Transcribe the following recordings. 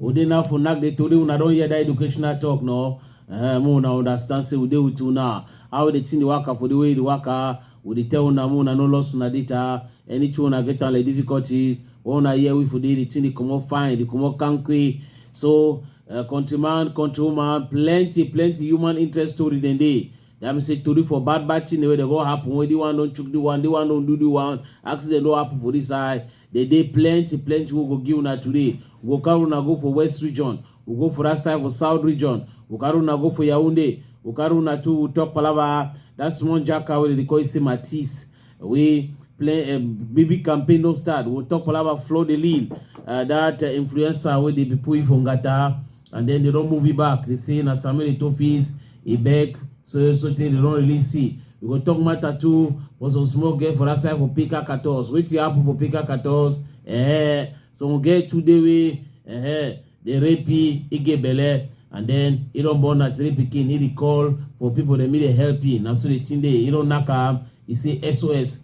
Udena for nak dey today una don hear that educational talk no. Uh, mo una understand say we dey with una. How the thing dey waka for the way the waka. We dey tell una mo una no loss una data. Anything una get like difficulties. When una hear we for dey the thing dey comot fine, dey comot kanky. So uh, countryman, countrywoman, plenty, plenty human interest story dem dey. That means say tori for bad bad thing wey dey go happen wey the one don chook the one, the one don do the one, accident don happen for this side. Dey dey plenty plenty wey go give una today. We go carry una go for West region, we go for that side for South region, we carry una go for Yaoundé, we carry una too we talk palava that small jaka wey dey dey call you say Matisse wey play uh, baby campaign don start. We talk palava Fleur de Lille, uh, that uh, influencer wey dey be put for Ngata. and then they don move it back they say na samuel etofis e beg so so tey they don release see we go talk matter too for some small girl for that side for pika katos wetin happen for pika katos eh some girl too dey wey eh dey rape e e get belle and then e don born na three pikin e dey call for people dem e dey help e na so the thing dey e don knack am e say sos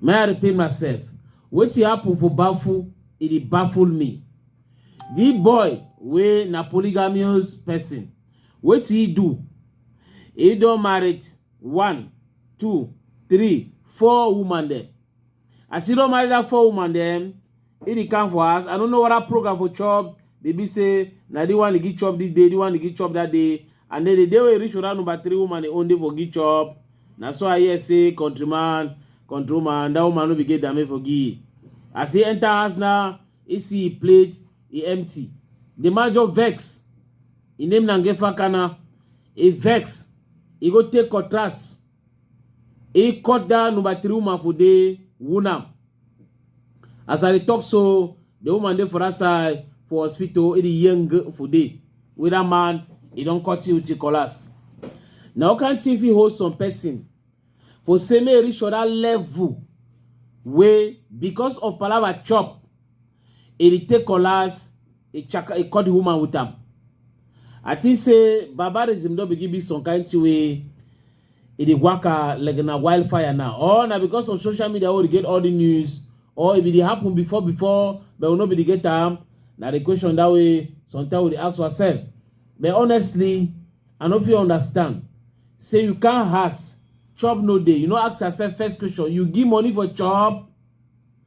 may i repeat myself wetin happen for baffle e dey baffle me the boy wey na polygamous person wetin he do he don married one two three four woman dem as he don marry that four woman dem He dey come for house. I don't know what that program for chop. They be say now the one they get chop this day, the one they get chop that day. And then the day we reach around number three woman they own day for get chop. Now so I hear say countryman, countryman, that woman no be get damage for give. As he enter house now, he see he plate, he empty. The man just vex. He name Nangefa Kana. He vex. He go take contrast. e cut down number three woman for dey wound am as i dey talk so the woman dey for that side for hospital e dey young for dey wey that man e don cut you till collapse na all kind thing fit hold some person for say make e reach for that level wey because of palava chop e dey take cutlass e chaka e cut the woman with am i think say barbarism don begin be some kind thing wey e dey waka like na wildfire now or na because of social media wey dey get all the news or if e dey happen before before but we no be dey get am na the question that way sometimes we dey ask ourselves but honestly i no fit understand say you can't ask chop no dey you no ask yourself first question you give money for chop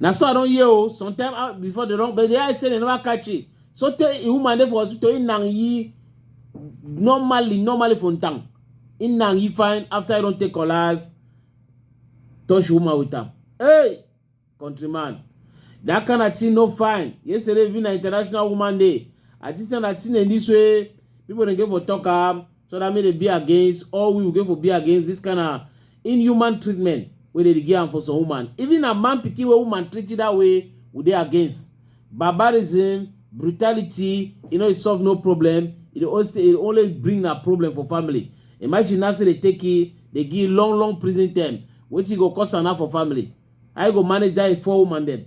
na so i don hear o oh, sometime ah, before they don but the eye say they never catch it so tey a woman dey for hospital im na yi normally normally for town im na yi fine after he don take collars touch woman with am hey countryman that kind of thing no fine yesterday even na international woman day. i think say na thing in this way people dey get for talk am so that mean they be against all we will go for be against this kind of inhuman treatment where they give am for some woman even a man picking a woman treat you that way we they against barbarism brutality you know it solve no problem it always it only bring a problem for family imagine now say they take it they give long long prison term What you go cost am for family I go manage that four woman dem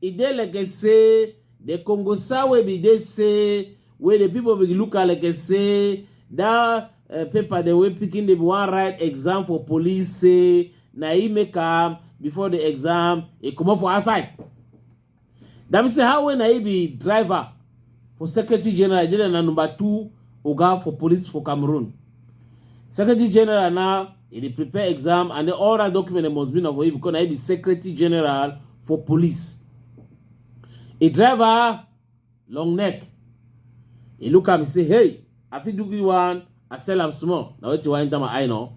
E dey like say the Congosa wey be dey say wey the people be look am like say that uh, paper the way picking dey wan write exam for police say na e make am before the exam e comot for outside. That mean say how when na e be driver for secretary general dina na number two oga for police for cameroon secretary general na e dey prepare exam and then all that document must be na for you because na e be secretary general for police e driver long neck e look am e say hey i fit do good one i sell am small na wetin wan enter my eye now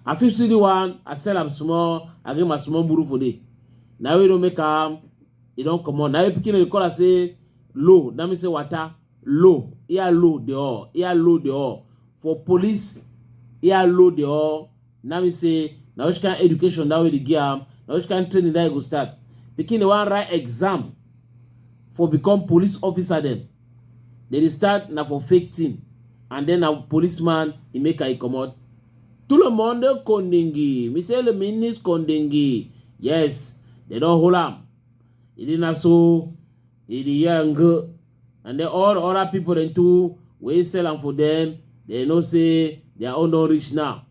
i fit see the one i sell am small i get my small buru for there na wey don make am e don comot na wey pikin dey call am say low that means say water low ear low the all ear low the all for police ear low the all that means say na which kind education that way dey give am na which kind training that go start pikin dey wan write exam for become police officer dem dem dey start na for fake thing and then na policeman e make her e comot tout le monde kondingi misele minis kondingi yes dem don hold am He did not so he dey hear am go and then all other people dem too wey sell am for them they know say their own don reach now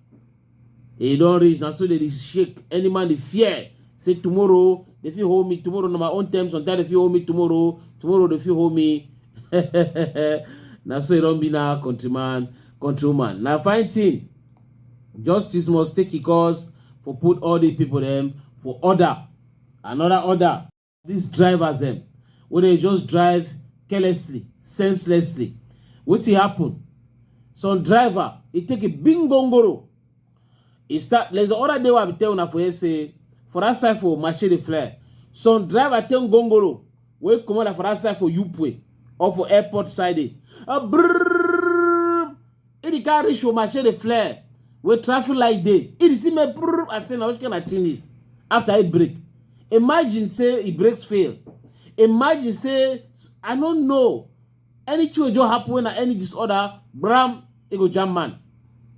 e don reach na so they dey shake any man dey fear say tomorrow they fit hold me tomorrow na my own time sometimes they fit hold me tomorrow tomorrow they fit hold me na so e don be na countryman countrywoman na fine thing justice must take e cause for put all the people dem for order Another order. These drivers dem wey dey just drive carelessly, senselessly. Wetin happen? Some driver e take a big gongoro. E start there's the other day wey I be tell una for here say for that side for Machete Flare, some driver take gongoro wey comot like for that side for Upwey or for airport side dey. Ah, brrrr. If the car reach Oma, share the flare. Where traffic light day. If the see me brrr, I say, now which kind of thing is? After it break. Imagine say it breaks fail. Imagine say, I don't know. Any change will happen when any disorder, Bram, it go jam man.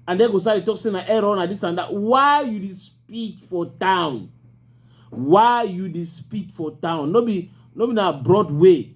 And then go say, talk saying an error and this and that. Why you dey speak for town? Why you dey speak for town? No be, no be na Broadway.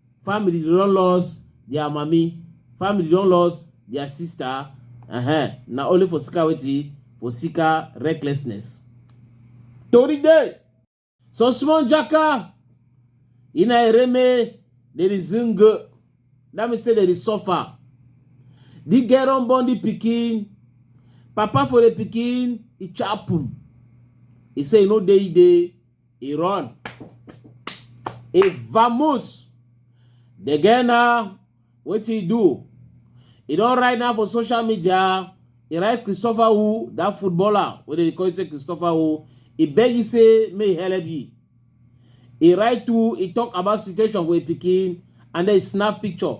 family dey don lost their mami family don lost their sister uh-huh. na only for sika wetin for sika recklessness tori dey so small jaka ina ereme dey dey zing that mean say dey dey suffer the girl don born the pikin papa for the pikin e chapum e say e no dey e dey e run e vamos the girl now wetin e do e don write now for social media e write christopher who that footballer wey dey call say christopher who e beg you say make e help you e write to e talk about situation for e pikin and then e snap picture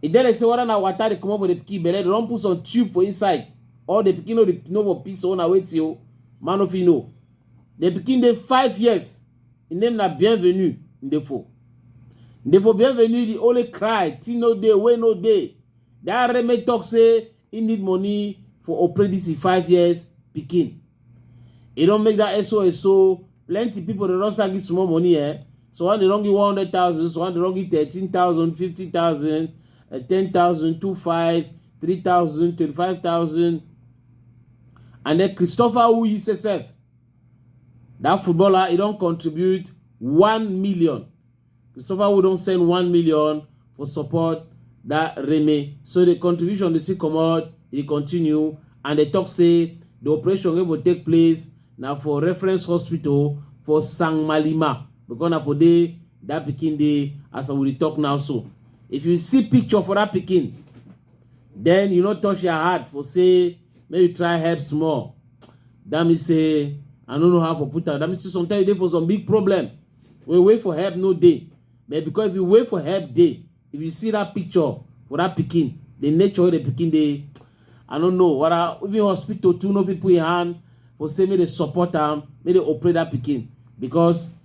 e tell dem say whether na water dey comot for the pikin belle dem don put some tube for inside or the pikin no dey no for piss or na wetin o man no fit know The pikin dey five years. Im name na Bienvenue Ndefo. Ndefo Bienvenue dey only cry, thing no dey, wey no dey. That Reme talk say he need money for operate this im five years pikin. E don make that SOS so plenty people dey don start give small money eh. So one dey don give one hundred thousand, so one dey don give thirteen thousand, fifty thousand, ten thousand, two five, three thousand, twenty-five thousand. And then Christopher Uyise self, that footballer, he don't contribute 1 million. Christopher Wood don't send 1 million for support that Remy. So the contribution they see come out, he continue, and they talk say the operation wey go take place na for reference hospital for sang malima because na for dey that pikin dey as i will talk now so if you see picture for that pikin Then you no touch your heart for say make you try help small. That means say I don't know how to put that. That means say sometimes you dey for some big problem. We wait for help no day. But because if you wait for help day, if you see that picture for that picking, the nature of the picking they I don't know what I even hospital too no fit put your hand for say make they support them, make they operate that picking because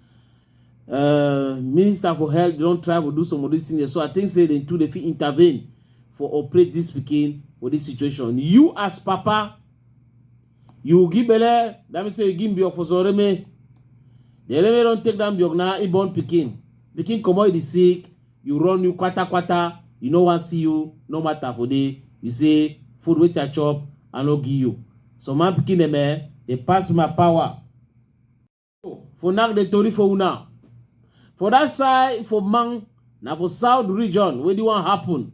uh, minister for health they don try to do some of these things so i think say they too they fit intervene for operate this pikin for this situation you as papa you give belle that mean say you give mbiok for zoreme the enemy don take that mbiok na e born pikin pikin comot the sick you run you kwata kwata you no wan see you no matter for day you say food wey i chop i no give you so man pikin dem eh dey pass my power for knack the tori for una for that side for man na for south region wey the one happen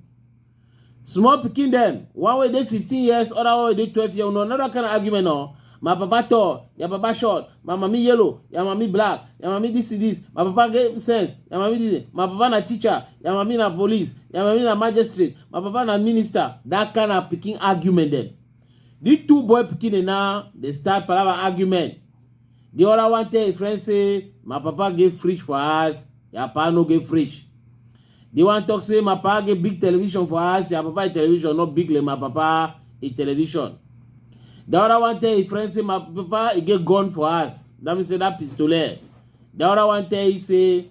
small pikin dem one wey dey fifteen years other one wey dey twelve years una another kind of argument o my papa tall your papa short my mami yellow your mami black your mami this is this my papa get sense your mami this my papa na teacher your mami na police your mami na magistrate my papa na minister that kind of pikin argument dem the two boy pikin dem now dey start palava argument The other one tell a friend say, my papa get fridge for us, your papa no get fridge. The one talk say, my papa get big television for us, your papa a television, not big like my papa a television. The other one tell a friend say, my papa he get gun for us. That means say that pistolet. The other one tell he say,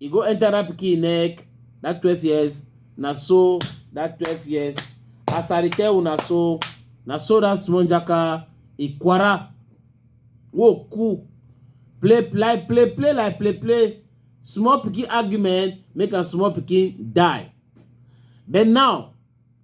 e go enter that pikin neck that twelve years na so that twelve years as i dey tell una so na so that small jaka ikwara wo cool play play play play like play play small pikin argument make am small pikin die but now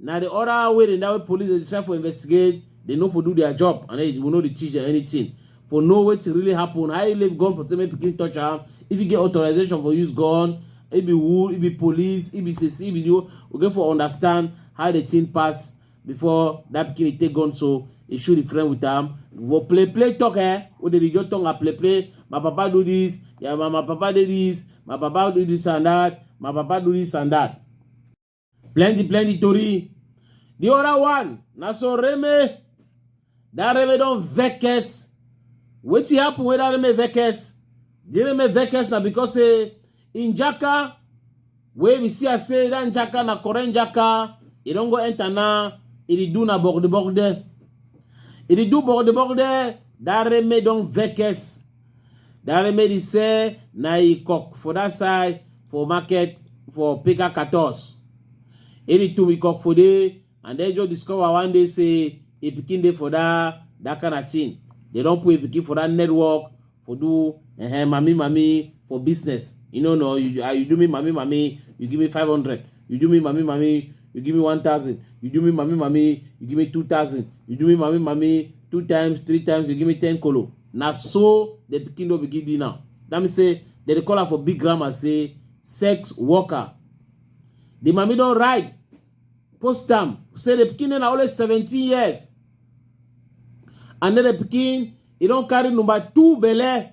na the other way dem that way police dey try for investigate they no for do their job and they will no dey teach anything for know wetin really happen how you leave gun for say make pikin touch am if you get authorization for use gun e be who e be police e be sisi e be the we get for understand how the thing pass before that pikin dey take gun so e shoot the friend with am go play play talk eh wey dey just tongue and play play my papa do this yeah my, my papa dey this my papa do this and that my papa do this and that Plenty, plenty tori. The other one, na so Reme, that Reme don vex. Wetin happen wey that Reme vex? The Reme vex na because say in Jaka, wey we see as say that Jaka na current Jaka, e don go enter na, e dey do na bogde bogde. E dey do bogde bogde, that Reme don vex. Dareme dey sell na e cock for that side for market for Peka Katos. Any two we cock for there and then just discover one day say a pikin dey for that that kind of thing. They don put a pikin for that network for do uh, mami mami for business. You know no, you, uh, you do me mami mami, you give me 500. You do me mami mami, you give me 1000. You do me mami mami, you give me 2000. You do me mami mami, two times, three times, you give me 10 kolo. na so the pikin don begin be now that means say dem dey call am for big grammar say sex worker the mami don write post am say the pikin na only seventeen years and then the pikin e don carry number two belle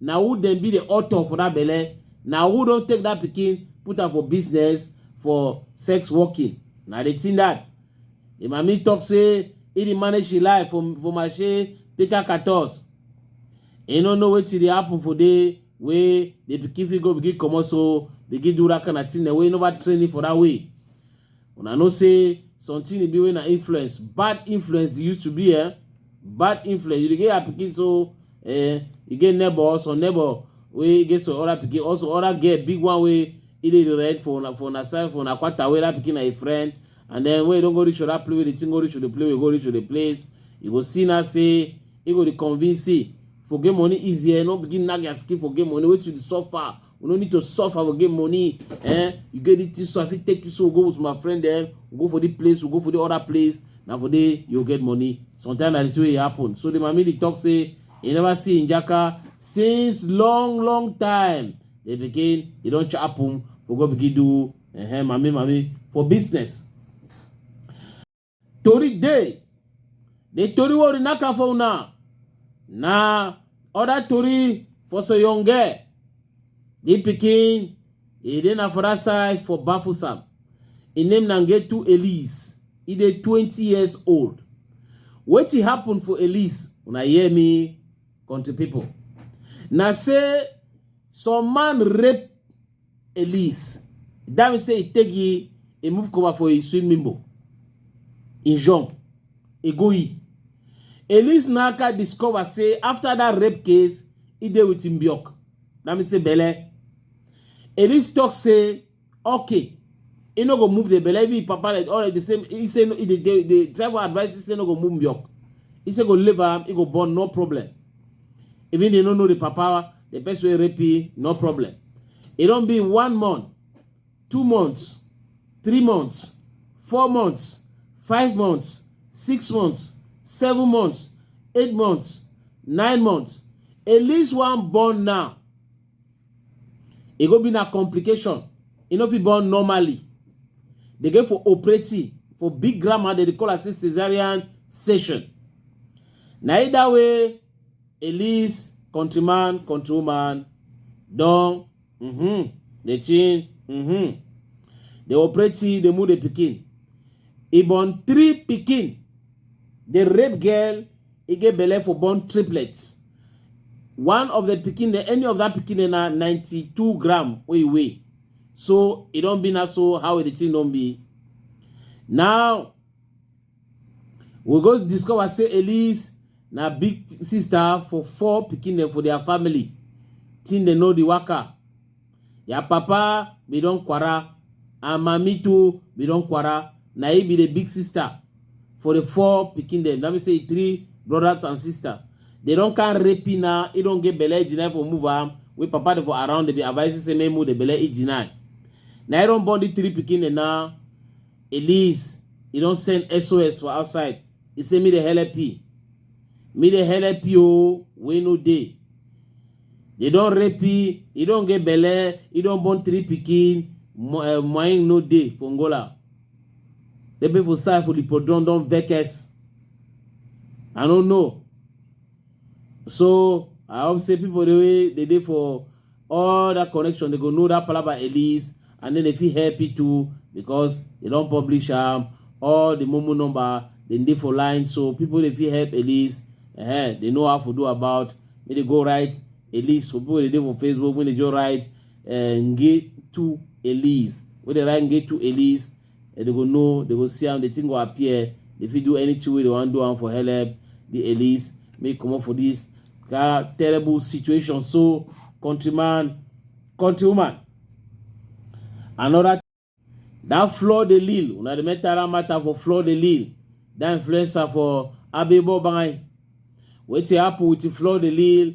na who dem be the author for that belle na who don take that pikin put am for business for sex working na the thing that the mami talk say he dey manage him life for for marche peter catos he no know wetin dey happen for there wey the pikin fit go begin comot so begin do that kind of thing wey never train him for that way Una know say something e be wey na influence, bad influence dey used to be eh. Bad influence, you dey get your pikin so eh, you get neighbor, some neighbor wey get some other pikin, also other girl, big one wey e dey rent for una for una side for una quarter wey that pikin na a friend. And then when you don go reach other place wey the thing go reach to the place wey go reach to the place, you go see now say e go dey convince say forget money easy eh, no begin nag your skin forget money, wetin you dey suffer, we no need to suffer we get money eh you get it so i fit take you so we go with my friend eh we go for the place we go for the other place na for there you get money sometimes na the way e happen so the mami dey talk say e never see njaka since long long time they begin e don happen for go begin do eh, mami mami for business tori dey the tori wey we knack am for una na other tori for soyonge the pikin e dey na for that side for bafusam im name na ngetu elise e dey twenty years old wetin happen for elise una hear me country people na say some man rape Elise. That means say he take he, he move cover for a swim mimbo. He jump. He go he. Elise Naka discover say after that rape case, he dey with Mbiok. That means say Bele. Elise talk say, okay, he no go move the Bele. Even his papa like already the same. He say no, he dey- dey dey try for advice. He say no go move Mbiok. He say go leave am. He go born no problem. Even they no know the papa the person wey rape you no problem e don be one month two months three months four months five months six months seven months eight months nine months at least one born now e go be na complication e no fit born normally dey go for operative for big grammar dem dey call am say cesarean section na either way At least countryman, countrywoman don mm-hmm, dey change mm-hmm. Dey operate till dey move the pikin. He born three pikin. The rape girl, he get belle for born triplets. One of the pikin, the any of that pikin dey na 92 gram wey he weigh. So e don be na so how the thing don be. Now We go discover say Elise na big sister for four pikin dem for their family. Thing dem know the waka. Their papa be don kwara and mami too be don kwara. Na he be the big sister for the four pikin dem. That means say three brothers and sister. They don can rape him now. He don get belle, he deny for move am. We papa dey for around, they be advising say make move the belle, he deny. Na he don born the three pikin dem now. At least e don send SOS for outside. E say me dey help you. Me dey help you o, wey no dey. They don rape you, e don get belle, e don born three pikin, mo- eh, moying no dey for Angola. The people side for the podron don vex. I no know. So I hope say people the way they did for all that connection, they go know that palaba at least, and then if he happy too because they don't publish um all the momo number they need for line. So people if you help at least, uh, eh, they know how to do about. May they go right at least for people they do for Facebook. When they go right, uh, eh, get to at least. When they right, get to at least. and they go know they go see am the thing go appear they fit do anything wey they wan do am for helep the elites make comot for this that terrible situation so countryman countrywoman another that floor the lil una the metal matter for floor the lil that influencer for abebo bangai wetin happen with floor the lil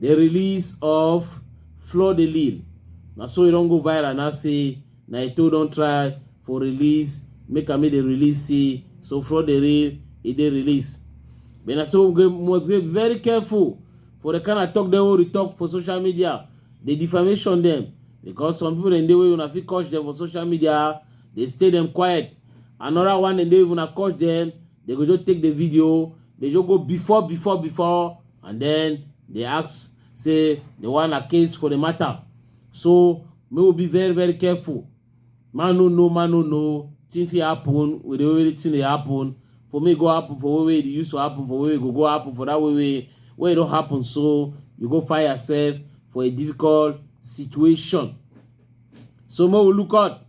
The release of Fleur de Lille. Na so e don go viral now say na Eto'o don try for release, make am make dey release say so Fleur de Lille e dey release. But na so we must dey very careful for the kind of talk dem wey we talk for social media, the defamation dem because some people dem dey wey una fit catch dem for social media, dey stay dem quiet. Another one dem dey if una catch dem, dey go just take the video, dey just go before before before and then they ask say they want a case for the matter so may we be very very careful man no know man no know thing fit happen with the way the thing dey happen for me go happen for way wey e used to happen for way go go happen for that way wey wey e don happen so you go find yourself for a difficult situation so make we look out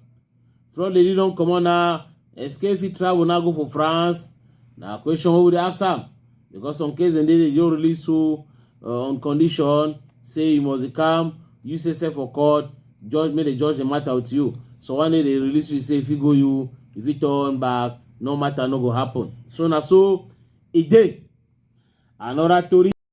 front lady don comot na escape fit travel now go for france na question wey we dey ask am because some case dem dey dey just release you uh, on condition say you must come you say sef for court judge make dem judge the matter with you so one day they release you say if you go you if you turn back no matter no go happen so na so e dey another tori.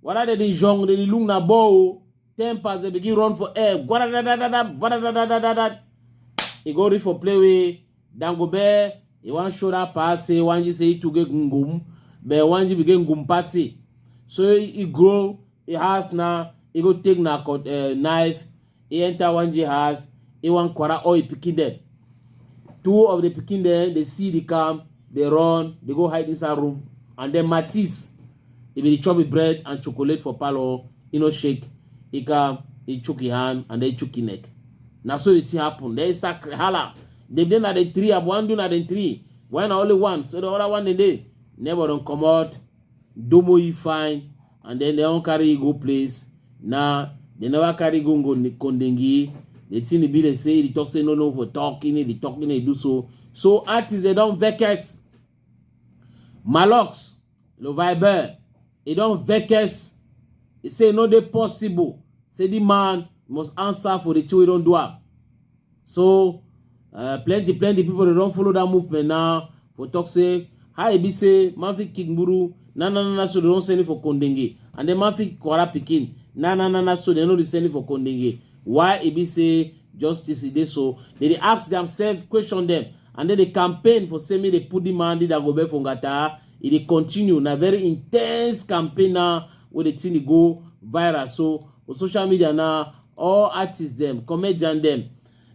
Whether they the young, they the look na ball, tempers, they begin run for air. He go reach for play with Dangobe. He want show that pass, he want you say to get gum, but want you begin gum pass. So he grow, he has now, he go take na uh, knife, e enter one Jew house, e wan quarrel all him pikin dem. Two of the pikin dem dey see the camp, dey run, dey go hide inside room. And then Matisse, he bin dey chop him bread and chocolate for parlour, e no shake, e come, e chook him hand and then e chook him neck. Na so the thing happen. Then e start cry, hala. Dem dey na dem three, I wan do na dem three. Why na only one? So the other one dey dey. Neighbor don comot. Domoyi fine and then they don't carry you go place. Now they never carry go go Kondengi. The thing be they say they talk say no no for talking, they talking they do so. So artists they don't vex. Malox, Le Viber, they don't vex. They say no they possible. Say the man must answer for the two we don't do up. so uh, plenty plenty people dey don follow that movement now for talk say how e be say man fit kick gburu na na na na so they don send it for kondenge and then man fit kwara pikin na na na na so they no dey send it for kondenge why e be say justice e dey so they dey ask themselves question them and then they campaign for say make they put the man the dagobe for ngata e dey continue na very intense campaign now wey dey thing dey go viral so for social media now all artists dem comedian dem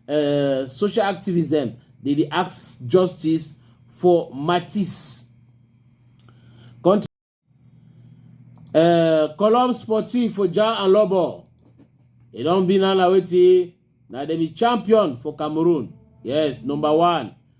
uh, social activists dem dey dey ask justice for matisse country uh, column sportive for jar and lobo e don be now na wetin na dem be champion for cameroon yes number one